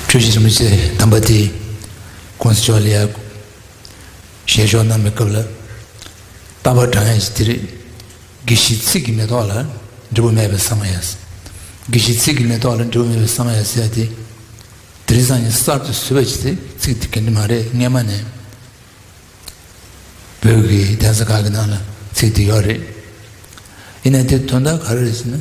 ཆོས་བཞིན་རིན་པོ་ཆེ་དམ་པ་དེས ྋགོང་ས་མཆོག་ལ་ཡར་ཞལ་ཕྱོགས་གནང་བའི་སྐབས་ལ། རྟ་བབས་བྲང་ཡང་ཞིག་དེ་རིགས་དགེ་བཤེས་ཚིག་གི་མེ་ཏོག་ལ་འབྲས་བུ་མེད་པའི་ས་མ་ཡ། དགེ་བཤེས་ཚིག་གི་མེ་ཏོག་ལ་འབྲས་བུ་མེད་པའི་ས་མ་ཡ་ཟེར་ཏེ། དེ་རིགས་སང་ཉིན་གསར་དུ་བཟོས་པ་ཞིག་དེ་ཚིག་དེ་ག་འདྲི་མ་རེད་སྔས་མ་ནས་བོད་ཀྱི་གདན་ས་ཁག་གི་ནང་ལ་ཚིག་དེ་ཡོད་རེད། ཡིན་ན་དེ་དོན་དག་ག་རེ་རེད་ཟེར་ན།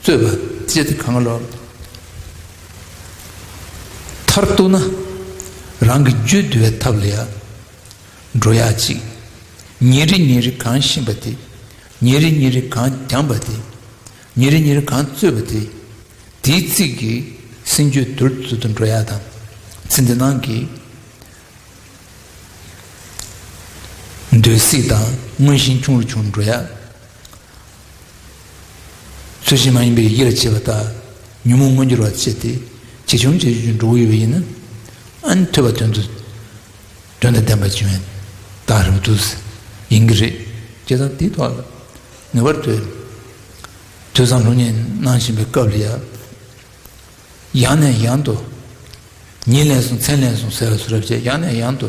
རྩོད་པ་བཅད་དེ་གང་ལ་མཐར་གཏུགས་ན་རང་གི་རྒྱུད་བསྡུ་བའི་ཐབས་ལ་ཡང་འགྲོ་ཡ་གཅིག་ཉིན་རེ་ཉིན་རེ་གང་བཤིན་པ་དེ་ཉིན་རེ་ཉིན་རེ་གང་བསྒྱངས་པ་དེ་ཉིན་རེ་ཉིན་རེ་གང་རྩོད་པ་དེ་དེའི་ཚིག་གི་སེམས་རྒྱུད་བསྡུར་བརྫུ་དུ་འགྲོ་ཡ་དང་ཚིག་འདི་སྣང་གི་འདོད་སྲེད་དང་མངོན་ཞེན་ཆུང་རུ་ཆུང་རུ་འགྲོ་ཡ། ཚུལ་བཞིན་མ་ཡིན་པའི་ཡིད་ལ་བྱེད་པ་དག་ཉོན་མོངས་མངོན་གྱུར་བར་བྱེད་དེ་ཇི་བྱུང་བྱས་བྱུང་འགྲོ་འོས་པ་ཡིན་ནམ། ཨཱ་ཐོས་པ་དོན་དུ་དོན་དང་ལྡན་པར་བྱུང་བས་དག་རེད་བ་དུ། ཡིན་གྱི་རེད། ཅེས་དང་དེའི་ཐོག་ལ་ངེས་པར་དུ་ཐོས་བསམ་ལྷུག་བསྙེན་གནང་བཞིན་པའི་སྐབས་ལ་ཡང་ནས་ཡང་དུ་ཉིན་ལན་གསུམ་མཚན་ལན་གསུམ་ཟེར་བ་སུ་རབས་བྱས་ཡང་ནས་ཡང་དུ་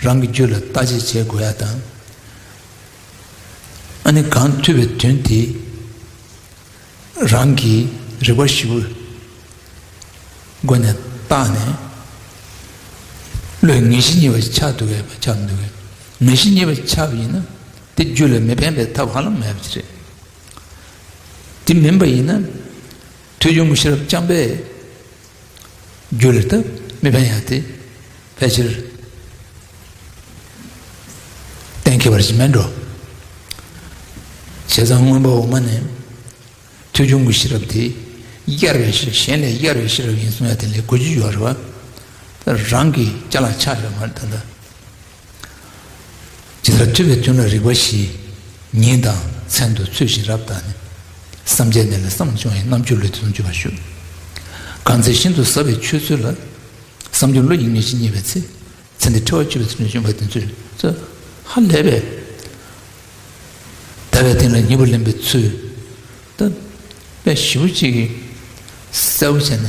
རང་གི་རྒྱུད་ལ་ལྟ་དཔྱད་བྱེད་དགོས་ཡ་དང། ཨ་ནི་གང་ཐོས་པའི་དོན་དེ་རང་གི་རིག་པ་བཞི་པོའི་སྒོ་ནས་བརྟགས་ནས་བློས་ངེས་ཤེས་གཉིས་པ་ཆགས་འདུག་གས་པ་ཆགས་མི་འདུག་གས་ངེས་ཤེས་གཉིས་པ་ཆགས་པ་ཡིན་ན་དེ་རྒྱུད་ལ་མི་ཕན་པའི་ཐབས་ཧ་ལམ་མེད་པ་རེད། དེ་མིན་པ་ཡིན་ན་ཐོས་ཆུང་གི་ཤེས་རབ་རྐྱང་པས། རྒྱུ་ལས་ཐབས་མེད་པ་ཡང་དེ་ཕལ་ཆེར་གཏན་འཁེལ་བར་ཞིག་མེད་འགྲོ། བྱས་ཙང་སྔོན་པོ་འོག་མ་ནས་ཐོས་བྱུང་གི་ཤེས་རབ་དེ་གཡར་བའི་ཤེས་རབ་གཞན་ལས་གཡར་བའི་ཤེས་རབ་ཡིན་གསུངས་ཡ་དེ་ལས་གོ་རྒྱུ་ཡོད་རེད་བ། རང་གི་སྐྱ་ལ་ཆགས་ཡོད་མ་རེད་ད། ཇི་ལྟར་འཁྲུལ་བའི་དོན་ལ་རིགས་པ་བཞི། ཉིད་དང་མཚན་དུ་ཚུལ་བཞིན་རབ་བརྟགས་ནས། བསམ་བྱའི་གནས་ལས་བསམ་བྱུང་ཡང་རྣམ་འགྱུར་ལུས་དེ་ཙམ་གྱུར་པར་ཞུ། གང་ཚེ་ཤིན་ཏུ་ཟབ་པའི་ཆོས་ཚུལ་ལ། བསམ་བྱུང་ལུས་ཡིན་ངེས་ཤེས་རྙེད་པའི་ཚེ། ཚེ་འདི་འཁྲི་བ་གཅོད་པའི་ཚུལ་ནས་བྱུང་བ་དེ་ཚུལ་སོ། ཧ་ལས་པས། ཟླ་བའི་སྟེང་ལ་མྱུར་བར་ལེན་པའི་ཚུལ། དཔེ་བཞི་པོ་གཅིག་གིས་གསལ་བོ་བྱས་ནས།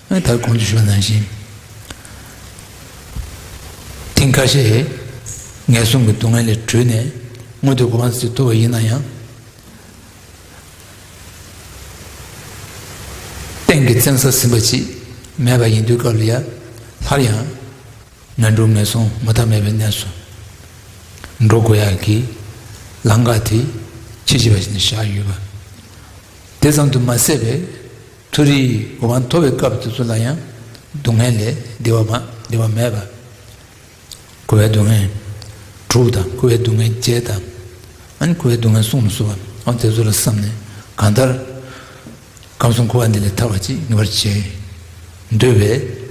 ད་གོང་དུ་ཞུ་བ་ནང་བཞིན། ཐེངས་ཁ་ཤས་ངན་སོང་གི་སྡུག་བསྔལ་ལས་གྲོལ་ནས་མངོན་དུ་གོམས་པ་ཞིག་ཐུབ་པ་ཡིན་ན་ཡང། སྟེང་གི་བཙན་ས་ཟིན་པ་ཅིག་མེད་པ་ཡིན་དུས་སྐབས་ལ་ཡར་ལྷར་ཡང་ངན་འགྲོ་ངན་སོང་མུ་མཐའ་མེད་པའི་གནས་སུ་འགྲོ་དགོས་ཡ་གི་ལམ་ཁ་དེ་ཁྱི་ཤི་བ་བཞིན་བཞག་ཡོད་པ་དེ་ཙམ་དུ་མ་ཟད་པའི། མཐོ་རིས་དགུ་བ་མཐོ་བའི་སྐབས་དེ་ཚོ་ལ་ཡང་སྡུག་བསྔལ་ལས་བདེ་བ་མེད་པ། བསྐོལ་བའི་སྡུག་བསྔལ་དྲུག་དང་བསྐོལ་བའི་སྡུག་བསྔལ་བརྒྱད་དང། བསྐོལ་བའི་སྡུག་བསྔལ་གསུམ་ལ་སོགས་པ་དེ་ཚོ་ལ་བསམས་ནས་གང་ལྟར་ཁམས་གསུམ་འཁོར་བ་འདི་ལས་ཐར་བ་ཅིག་ངེས་པར་བྱེད་འདོད་པས།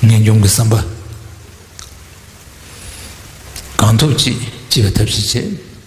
ངེས་འབྱུང་གི་བསམ་པ་གང་ཐུབ་ཅིག་ཅེས་པའི་ཐབས་ཤེས་བྱེད།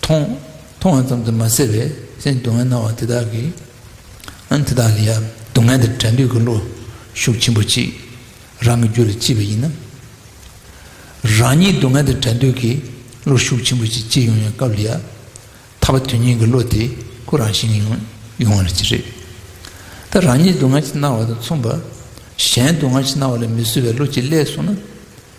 མཐོང། མཐོང་བ་ཙམ་དུ་མ་ཟད་པའི་སེམས་སྡུག་བསྔལ་སྣང་བ་དེ་དག་གིས། དེ་དག་ལ་ཡང་སྡུག་བསྔལ་དེར་དྲན་འདོད་ཀྱི་བློ་ཤུགས་ཆེན་པོ་གཅིག་རང་གི་རྒྱུད་ལ་སྐྱེས་པ་ཡིན་ན། རང་ཉིད་སྡུག་བསྔལ་དེར་དྲན་འདོད་ཀྱི་བློ་ཤུགས་ཆེན་པོ་གཅིག་སྐྱེས་ཡོང་ཡང་སྐབས་ལ་ཡང་ཐར་པ་དོན་གཉིས་ཀྱི་བློ་དེ་ཁོ་རང་བཞིན་གྱིས་ཡོང་བ་ལ་ཅི་རེད། ད་རང་ཉིད་སྡུག་བསྔལ་གྱི་སྣང་བ་དང་མཚུངས་པར་གཞན་སྡུག་བསྔལ་གྱི་སྣང་བ་ལ་མི་བཟོད་པའི་བློ་གཅིག་སླད་སོང་ན།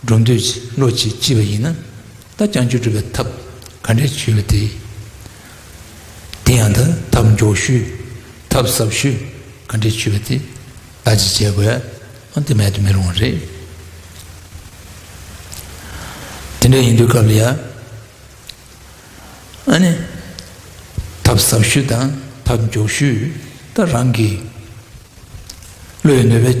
སྒྲུབ་འདོད་བློ་ཅིག་ལྕི་བ་ཡིན་ན། ད་བསྐྱང་ཆུ་སྒྲུབ་པའི་ཐབས་ག་འདྲས་བྱོས་ཏེ། དེ་ཡང་དང་ཐབས་མགྱོགས་ཤོས་ཐབས་ཟབ་ཤོས་ག་འདྲས་བྱོས་པ་དེ་ལ་ཅི་བྱེད་དགོས་ཨང་དེ་མེད་དུ་མི་རུང་བ་རེད། དེ་འདྲ་ཡིན་དུས་སྐབས་ལ་ཡ། ཨ་ནི། ཐབས་ཟབ་ཤོས་དང་ཐབས་མགྱོགས་ཤོས་ད་རང་གི་བློ་ཡི་ནུས་པའི།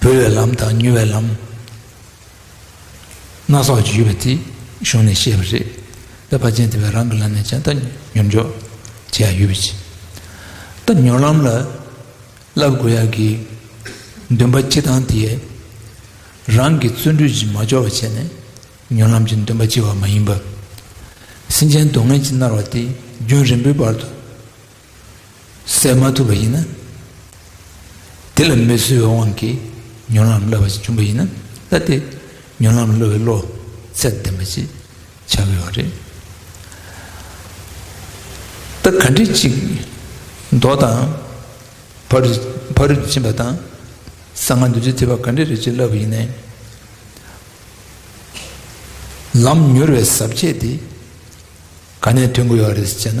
འབུལ་བའི་ལམ་དང་ཉོ་བའི་ལམ་སྣ་ཚོགས་ཀྱི་ཡོད་པ་དེ་གཞུང་ནས་བཤད་པ་རེད་པས་དཔའ་ཆེན་དེ་བས་རང་གི་ལམ་ནས་ཅང་ཏག་ཉོར་འཇོག་བྱེད་ཡག་ཡོད་པའི་ཕྱིར། སྟབས་ཉོར་ལམ་ལ་བསླབ་དགོས་ཡག་གི་འདུན་པ་ཆེ་ཐང་དེས་རང་གི་བརྩོན་འགྲུས་ཀྱི་མ་འབྱོར་བ་བྱས་ནས་ཉོར་ལམ་གྱི་འདུན་པ་ཆེ་བ་མ་ཡིན་པ། སེམས་ཅན་སྡུག་བསྔལ་གྱིས་མནར་བ་དེ་རྒྱུན་རིང་པོའི་བར་དུ། སེལ་མ་ཐུབ་པ་ཡིན་ན། དེ་ལ་མི་བཟོད་པའི་དབང་གིས་མྱུར་ལམ་བསླབ་པ་ཞིག་བྱུང་བ་ཡིན་ན་ལྟ་སྟེ། མྱུར་ལམ་སློབ་བའི་བློ་ཚད་ལྡན་པ་ཞིག་བྱ་དགོས་པ་རེད། ད་ག་འདྲི་གཅིག་མདོ་དང། ཕ་རུ་ཕ་རུ་འབྱིན་པ་དང། གསང་སྔགས་འདུལ་བྱེད་བརྩི་བ་ག་འདྲི་རེ་གཅིག་བསླབ་པ་ཡིན་ནའི། ལམ་མྱུར་བའི་ཟབ་ཁྱད་དེ་ག་ནས་ཐོན་དགོས་ཡོད་རེད་ཅེ་ན།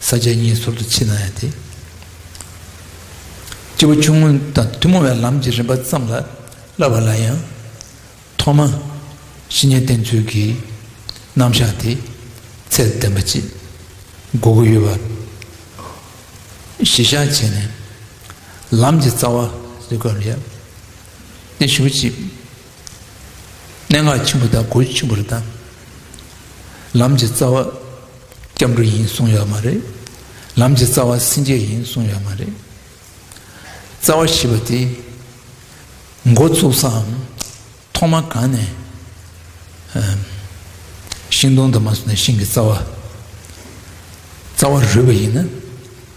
ས་ཆའི་གཉེན་ཟུར་དུ་མཆིས་ན་ཡང་དེ། སྤྱི་བོ་ཆུང་ངུ་དང་ཐུན་མོང་བའི་ལམ་གྱི་རིམ་པ་ཙམ་ལ་བསླབ་པ་ལ་ཡང། ཐོག་མ། བཤེས་གཉེན་བསྟེན་ཚུལ་གྱི་རྣམ་གཞག་དེ། ཚད་ལྡན་པ་གཅིག། དགོས་གོ་ཡོད་པ། གཞི་བཞག་བྱས་ནས། ལམ་གྱི་རྩ་བ་རིག་པར་ཡང། སྟེ་ཞུགས་གཅིག། གནད་འགག་ཆེན་པོ་དང་གོ་རྒྱུ་ཆེན་པོ་རེ་བཏང། ལམ་གྱི་རྩ་བ་སྐྱབས་འགྲོ་ཡིན་གསུངས་ཡོད་མ་རེད། ལམ་གྱི་རྩ་བ་སེམས་བསྐྱེད་ཡིན་གསུངས་ཡོད་མ་རེད། རྩ་བ་ཞེས་པ་དེ་མགོ་བཙུགས་སའམ་ཐོག་མ་གང་ནས་ཤིང་སྡོང་དུ་མ་སོང་ནས་ཤིང་གི་རྩ་བ་རོལ་བ་ཡིན་ན།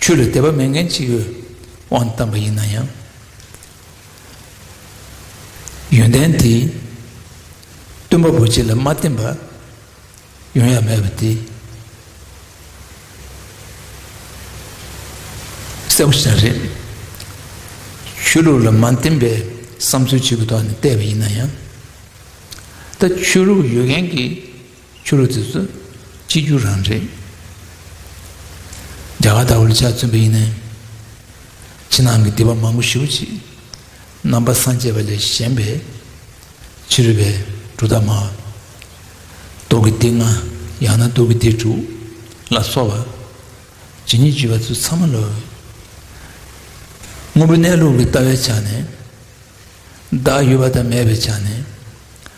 ཆོས་ལ་དད་པ་མེད་མཁན་གཅིག་གིས་དབང་བཏང་པ་ཡིན་ན་ཡང། ཡོན་ཏན་དེས་སྟོན་པ་པོ་ཁྱེད་ལ་མ་བསྟན་པ་ཡོང་ཡ་མེད་པ་དེ་གསལ་པོ་ཞིག་རེད། ཆོས་ལུགས་ལ་མ་བསྟན་པའི་བསམ་ཚུལ་གཅིག་གི་ཐོག་ནས་བལྟས་པ་ཡིན་ན་ཡང། ད་ཆོས་ལུགས་ཡོད་མཁན་གྱིས་ཆོས་ལུགས་དེ་ཚོ་གཅིག་གྱུར་རང་རེད། རྒྱ་གར་ལྟ་བུ་ལ་ཆ་མཚོན་པ་ཡིན་ནའི། ཕྱི་ནང་གི་སྡིག་པ་མང་པོ་ཞི་བ་གྱིས། རྣམ་པ་སངས་རྒྱས་པ་ལས་གཞན་པའི། ཕྱི་རོལ་པའི་འབྲུ་དག་མ། ཏོག་གི་སྡེ་ལྔ་ཡང་ན་དུག་གི་སྡེ་དྲུག་ལ་སོགས་པ། ཇི་སྙེད་བརྒྱུད་པ་ཚོ་ཚང་མ་ལོས། དངོས་པོ་གནས་ལུགས་ཀྱི་ལྟ་བའི་ཆ་ནས། བདག་ཡོད་པ་དང་མེད་པའི་ཆ་ནས།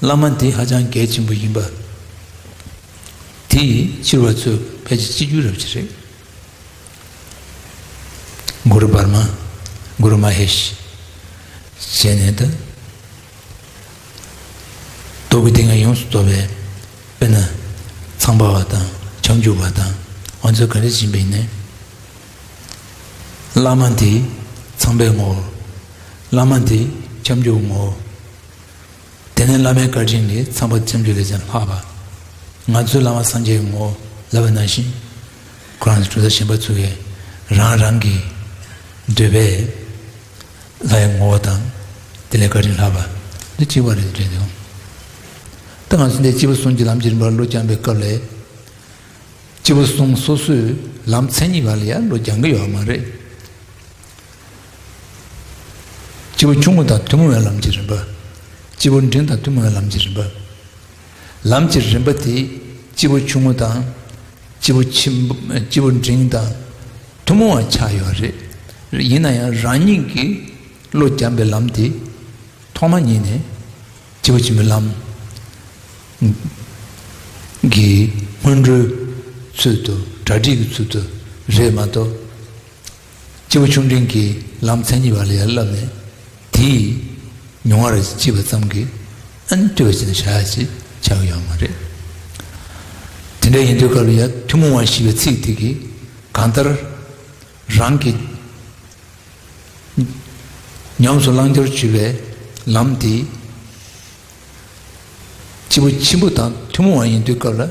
བླ་མ་འདི་ཧ་ཅང་གལ་ཆེན་པོ་ཡིན་པ། དེ་ཡི་ཕྱིར་བ་ཚོས་ཕལ་ཆེར་སྤྱི་རྒྱུད་རབ་བྱེད་རེད། གུ་རུ་བར་མ། Guru Mahesh། བྱས་ནས་ད། རྡོ་ཀུ་ཏི་ང་ཡོངས་སུ་དོར་བས། དཔེར་ན། ཚངས་པ་བ་དང་ཆང་བྱུག་བ་དང་ཨོ་མཚོ་ག་རེ་བྱིན་པས་ནས། བླ་མ་འདི་ཚངས་པའི་ངོ་བོ། བླ་མ་འདི་ཆང་བྱུག་ངོ་བོ། དེ་ནས་བླ་མའི་བཀའ་དྲིན་ལས་ཚངས་པ་བཅོམ་ལྡན་འདས་ཀྱང་ལྷགས་པ། ང་ཚོའི་བླ་མ་སངས་རྒྱས་ངོ་ལབ་པ་ན་བཞིན། ཁོ་རང་ཚོ་གྲུ་ཟ་ཞིམ་པ་འཚོལ་བའི་རང་རང་གི་འདོད་པའི་ལྷའི་ངོ་བོ་དང་དེ་ལས་བཀའ་དྲིན་ལྷགས་པ་འདི་གཅིག་པ་རེད་དྲན་བྱུང། ད་ང་ཚོ་འདས་སྤྱི་བོ་གསུམ་གྱི་ལམ་གྱི་རིམ་པར་བློ་སྦྱངས་པའི་སྐབས་ལས། སྤྱི་བོ་གསུམ་སོ་སོའི་ལམ་མཚན་ཉིད་བར་ལ་ཡང་བློ་སྦྱང་གི་ཡོད་མ་རེད། སྤྱི་བོ་ཆུང་ངུ་དང་ཐུན་མོང་བའི་ལམ་གྱི་རིམ་པ། སྤྱི་བོ་འབྲིང་དང་ཐུན་མོང་བའི་ལམ་གྱི་རིམ་པ། ལམ་གྱི་རིམ་པ་དེས་སྤྱི་བོ་ཆུང་ངུ་དང། སྤྱི་བོ་སྤྱི་བོ་འབྲིང་དང། ཐུན་མོང་བར་ཆགས་ཡོད་པ་རེད། ཡིན་ན་ཡང་རང་ཉིད་ཀྱིས་བློ་སྦྱངས་པའི་ལམ་དེ། ཐོག་མ་ཉིད་ནས་སྤྱི་བོ་ཆེན་པོའི་ལམ། གྱི་སྔོན་འགྲོའི་ཚུལ་དུ་གྲ་སྒྲིག་གི་ཚུལ་དུ་རེད་མ་གཏོགས། སྤྱི་བོ་ཆུང་འབྲིང་གི་ལམ་མཚན་ཉིད་བར་ལ་ཡར་བསླབས་ནས། དེ་ཡིས་མྱོང་བར་བགྱིས་པ་ཙམ་གྱིས་ཨན་བཀྲི་བ་ཅན་བྱ་ཞེས་བྱ་བ་ཡང་མ་རེད། དེ་འདྲ་ཡིན་དུས་སྐབས་ཡ་ཐུན་མོང་བ་ཞེས་པའི་ཚིག་དེ་གིས་གང་ལྟར་རང་གིས་ཉམས་སུ་བླང་རྒྱུར་བྱུས་པའི་ལམ་དེ་སྤྱི་བོ་ཆེན་པོ་དང་ཐུན་མོང་བ་ཡིན་དུས་སྐབས་ལ།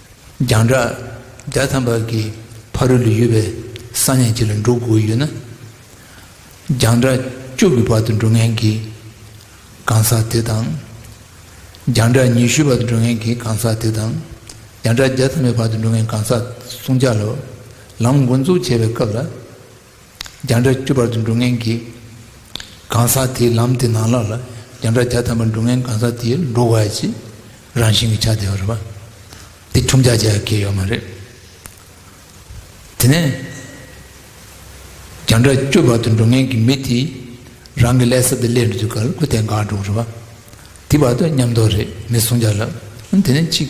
རྒྱང་གྲགས་བརྒྱ་ཐམ་པ་གྱི་ཕ་རོལ་ཏུ་ཡོད་པའི་ས་གནས་གཅིག་ལ་འགྲོ་དགོས་ཡོད་ན། རྒྱང་གྲགས་བཅུ་གྱི་བར་དུ་འགྲོ་མཁན་གྱི་གང་ཟག་དེ་དང། རྒྱང་གྲགས་ཉི་ཤུའི་བར་དུ་འགྲོ་མཁན་གྱི་གང་ཟག་དེ་དང། རྒྱང་གྲགས་བརྒྱ་ཐམ་པའི་བར་དུ་འགྲོ་མཁན་གང་ཟག་སུམ་བརྒྱ་ལ་ལམ་མགོ་འཛུགས་བྱེད་པའི་སྐབས་ལ། བརྒྱ་འདྲ་བཅུ་བར་དུ་འགྲོ་ངན་གྱི་གང་ཟག་དེའི་ལམ་དེ་ནང་ལ་ལ་བརྒྱ་འདྲ་བརྒྱ་ཐམ་པར་འགྲོ་ངན་གང་ཟག་དེའི་འགྲོ་བ་གྱི་རང་བཞིན་གྱི་ཆ་དེ་བར་པ་དེ་ཁྱུང་བརྒྱ་བརྒྱ་གས་ཡོད་མ་རེད། དེ་ནས་བརྒྱ་འདྲ་བཅུ་བར་དུ་འགྲོ་ངན་གྱི་མི་དེའི་རང་གི་ལས་ས་དེ་ལས་འགྲོ་དུས་གར་དགུ་དེ་འགག་འགྲོ་རེད་པ་དེ་བར་དུ་ཉམས་རྟོགས་རེད་མི་གསུང་བརྒྱ་ལ་དེ་ནས་གཅིག།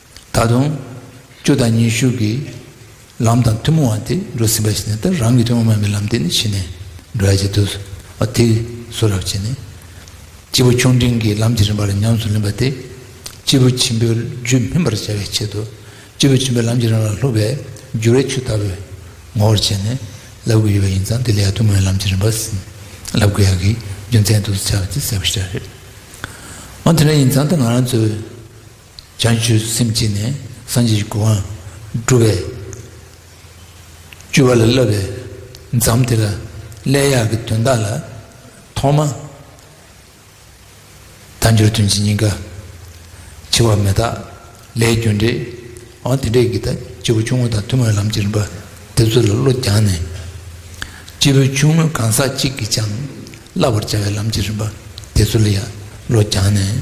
ད་དུང་བཅུ་དང་ཉི་ཤུ་གི་ལམ་དང་ཐུན་མོང་བ་དེ་འགྲོ་ཟིན་པ་ཞིག་ནས་ད་རང་གི་ཐུན་མོང་མ་ཡིན་པའི་ལམ་དེ་ནི་ཕྱི་ནས་འགྲོ་ཡ་ཅིག་འདུག་བ་དེ་སུ་རབ་བྱེད་ནས། སྤྱི་བོ་ཆུང་འབྲིང་གི་ལམ་གྱི་རིམ་པ་ལ་ཉམས་སུ་ལེན་པ་དེ། སྤྱི་བོ་ཆེན་པོའི་རྒྱུད་སྨིན་པར་བྱ་བའི་ཆེད་དུ། སྤྱི་བོ་ཆེན་པོའི་ལམ་གྱི་རིམ་པ་ལ་ལྷུག་པའི་རྒྱུ་བའི་ཆུ་ལྟ་བུས་ངོ་བོར་བྱས་ནས་བསླབ་དགོས་ཡོད་པ་ཡིན་ཙང་དེ་ལས་ཡང་ཐུན་མོང་བའི་ལམ་གྱི་རིམ་པ་ཟིན་བསླབ་དགོས་ཡ་གི་རྒྱུ་མཚན་དུ་བྱ་བ་དེ་གསལ་པོ་ཤེས་རྒྱུ་རེད། འོན་ཏེ་ན་ཡིན་ཙང་ད་ང་རང་ཚོའི། བྱང་ཆུབ་སེམས་བསྐྱེད་ནས་སངས་རྒྱས་ཀྱི་སྐུ་དབང་བསྒྲུབས་པས། བཅུ་བ་ལ་བསླབ་པའི་མཚམས་དེ་ལ་སླད་གཡག་གི་དོན་དག་ལ། ཐོག་མ། དལ་འབྱོར་དོན་གྱི་སྙིང་ག། འཆི་བ་མེ་སྟག་ལས་རྒྱུ་འབྲས། འོན་ཏེ་འབྲས་ཀྱི་དག་སྐྱེས་བུ་ཆུང་ངུ་དང་ཐུན་མོང་ལམ་གྱི་རིམ་པ་འདི་ཚོ་ལ་བློ་སྦྱངས་ནས། སྐྱེས་བུ་ཆུང་ངུ་གང་ཟག་གཅིག་གིས་ཀྱང་བསླབ་པར་བྱ་བའི་ལམ་གྱི་རིམ་པ་དེ་ཚོ་ལ་ཡང་བློ་སྦྱངས་ནས།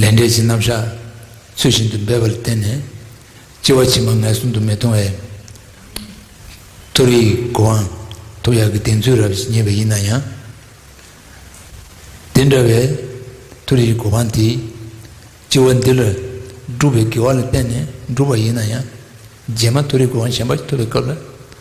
ལས་འབྲས་ཀྱི་རྣམ་གཞག་ཚུལ་བཞིན་དུ་འབེབས་པར་བརྟེན་ནས་ལྕི་བ་ཕྱི་མ་ངལ་གསུམ་དུ་མི་ལྟུང་བས། ཐུགས་ཡིད་གུ་དབང་ཐུགས་ཡག་གི་གདེང་ཚོད་རབ་ཞི་ཉེས་པ་ཡིན་ན་ཡང། དེ་འདྲ་བའི་ཐུགས་ཡིད་གུ་དབང་དེས་ལྕི་བ་འདི་ལ་བསྒྲུབ་པའི་དགེ་བ་ལ་བརྟེན་ནས་འགྲུབ་པ་ཡིན་ན་ཡང། རྗེས་མ་ཐུགས་ཡིད་གུ་དབང་གཞན་པ་ཐོབ་པའི་སྐབས་ལ།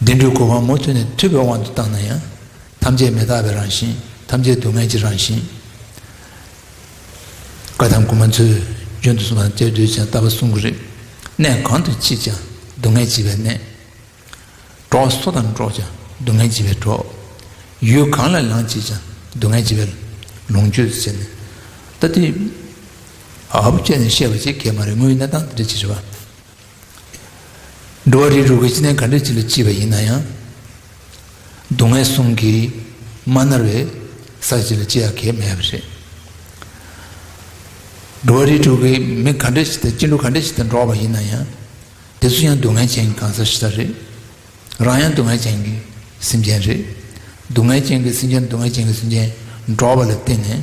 བདེ་འགྲོའི་གོ་འཕང་མུ་མཐུད་ནས་ཐོས་པའི་དབང་དུ་བཏང་ན་ཡང། ཐམས་ཅད་མི་རྟག་པའི་རང་བཞིན། ཐམས་ཅད་སྡུག་བསྔལ་གྱི་རང་བཞིན། བཀའ་ཐང་གུ་མ་མཚོས་རྒྱུན་དུ་གསུང་བ་དེར་འདོད་ཅིང་ལྟ་བ་གསུམ་གྱི་རིགས། གནས་གང་དུ་མཆིས་ཀྱང་སྡུག་བསྔལ་བྱེད་པའི་གནས། གྲོགས་སུ་དམ་འགྲོགས་ཀྱང་སྡུག་བསྔལ་བྱེད་པའི་གྲོགས། ཡུལ་གང་ལ་ལངས་བྱེད་ཀྱང་སྡུག་བསྔལ་བྱེད་པའི་ལོངས་སྤྱོད་ཟེར་ནས། ལྟ་དུས། ཨ་བུ་ཁྱོད་ནས་བཤད་པ་ཅི་གལ་མ་རེད་དངོས་ཡོད་གནས་སྟངས་དེ་འདྲ་ཅི་རེད་བ། འགྲོ་བ་རིའི་རུ་ཁའི་སྤྱི་ནས་ག་འདྲའི་སྤྱི་ལ་སྐྱིད་པ་ཡིན་ན་ཡང། སྡུག་བསྔལ་གསུམ་གྱིས་མ་མནར་བའི་ས་སྐྱིད་ལ་སྐྱི་ཡག་གེ་མེད་པ་རེད། འགྲོ་བ་རིའི་དྲུག་གི་མི་ག་འདྲ་ཞིག་དང་སྐྱིད་འགྲོ་ག་འདྲ་ཞིག་དང་འགྲོགས་པ་ཡིན་ན་ཡང། དེ་ཚོ་ཡང་སྡུག་བསྔལ་ཅན་གྱི་གང་ཟག་ཞིག་ལ་རེད། རང་ཡང་སྡུག་བསྔལ་ཅན་གྱི་སེམས་ཅན་རེད། སྡུག་བསྔལ་ཅན་གྱི་སེམས་ཅན་སྡུག་བསྔལ་ཅན་གྱི་སེམས་ཅན་འགྲོགས་པ་ལ་བརྟེན་ནས།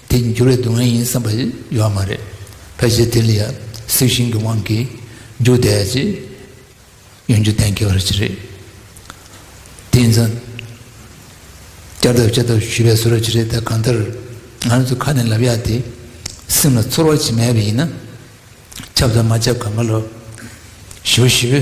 དེ་འགྱུར་བའི་སྡུག་བསྔལ་ཡིན་བསམ་པ་ཡོད་མ་རེད། ཕལ་ཆེར་དེ་ལ་ཡང་སྲིད་ཞིང་གི་དབང་གིས་འཇུག་བདེ་ཡ་ཅེས་ཡང་རྒྱུ་གཏན་འཁེལ་བར་བྱེད་རེད། དེ་ཡིན་ཙང། བསྐྱར་ལྡབ་བསྐྱར་ལྡབ་ཞུས་པའི་སོ་ར་ཅི་རེད་ད་གང་ལྟར་ང་རང་ཚོ་ཁ་ནས་ལབ་ཡ་དེ་སེམས་ལ་ཚོར་བ་ཅིག་མེད་པ་ཡིན་ན། ཁྱབ་དང་མ་ཁྱབ་གང་ག་ལ། ཞི་བ་ཞི་བའི།